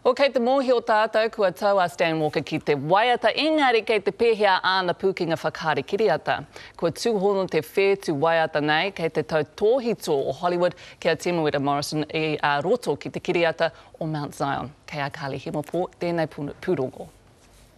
Oh kei te mōhio tātou kua tau a Stan Walker ki te waiata engari kei te pēhea āna pūkenga whakaari kiriata? Kua tūhono te whētu waiata nei kei te tautōhito o Hollywood ki a Temuera Morrison i a roto ki te kiriata o Mount Zion. Kei a Carly Himopō tēnei pūrongo.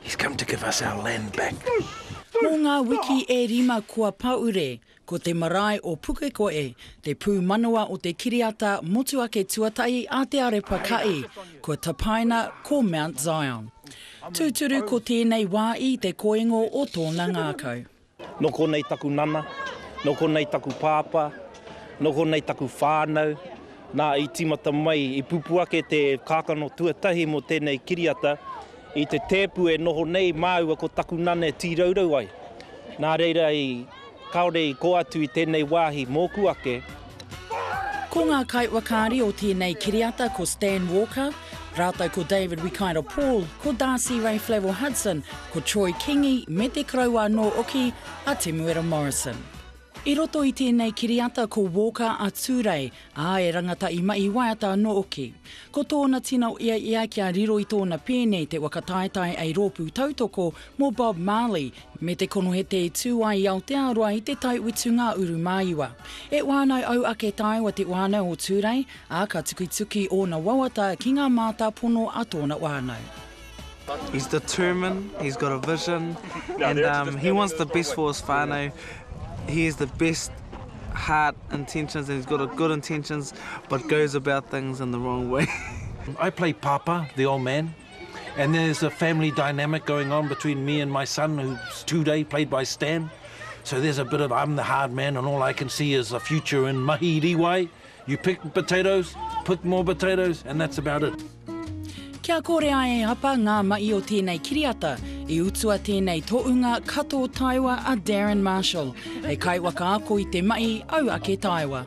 He's come to give us our land back. Mō ngā wiki e rima kua pahure, ko te marae o Pukekohe te pūmanawa o te kiriata motuhake tuatahi a Te Arepa Ka'i, kua tapaina ko Mount Zion. Tūturu ko tēnei wā i te koingo o tōna ngākau. Nō konei taku nana, nō konei taku pāpā, nō konei taku whānau. Nā, i tīmata mai, i pupū ake te kākano tuatahi mō tēnei kiriata i te tēpu e noho nei māua ko taku nana e tīraurau ai. Nā reira i kāore i kō atu i tēnei wāhi mōku ake, Ko ngā kaiwakāri o tēnei kiriata ko Stan Walker, rātou ko David Wikaira Paul, ko Darcy Ray Flavell Hudson, ko Troy Kingi me te koroua anō oki a Temuera Morrison. I roto i tēnei kiriata ko Walker a Tūrei, ā, e rangata i mahi waiata anō oki. Ko tōna tino ia ia kia riro i tōna pēne te waka taetae ei rōpū tautoko mō Bob Marley Me te konohete i tū ai i Aotearoa i te tai utu ngā uru māiwa. E whānau au ake tae wa te whānau o Tūrei, ā, ka tukituki ōna wawata ki ngā mātāpono a tōna whānau. He's determined, he's got a vision and um he wants the best for his whānau, he has the best heart intentions and he's got a good intentions but goes about things in the wrong way. I play Papa, the old man. And then there's a family dynamic going on between me and my son, who's Tūrei, played by Stan. So there's a bit of I'm the hard man and all I can see is a future in mahi riwai. You pick potatoes, pick more potatoes, and that's about it. Kia kore ai e Apa ngā mahi o tēnei kiriata, i utua tēnei tōunga kato taewa a Darren Marshall, he kaiwakaako i te mahi au ake taewa.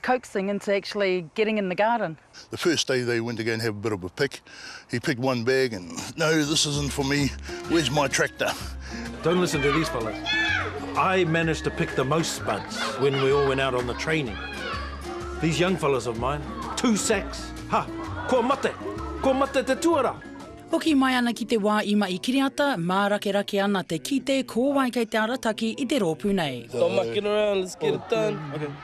coaxing into actually getting in the garden. The first day they went to go and have a bit of a pick, he picked one bag and, no, this isn't for me, where's my tractor? Don't listen to these fellas. I managed to pick the most spuds when we all went out on the training. These young fellas of mine, two sacks, ha, kua mate, kua mate te tuarā! Hoki mai ana ki te wā i mahi kiriata, mārakerake ana te kite ko wai kei te arataki i te rōpū nei. Stop mucking around, let's get it done.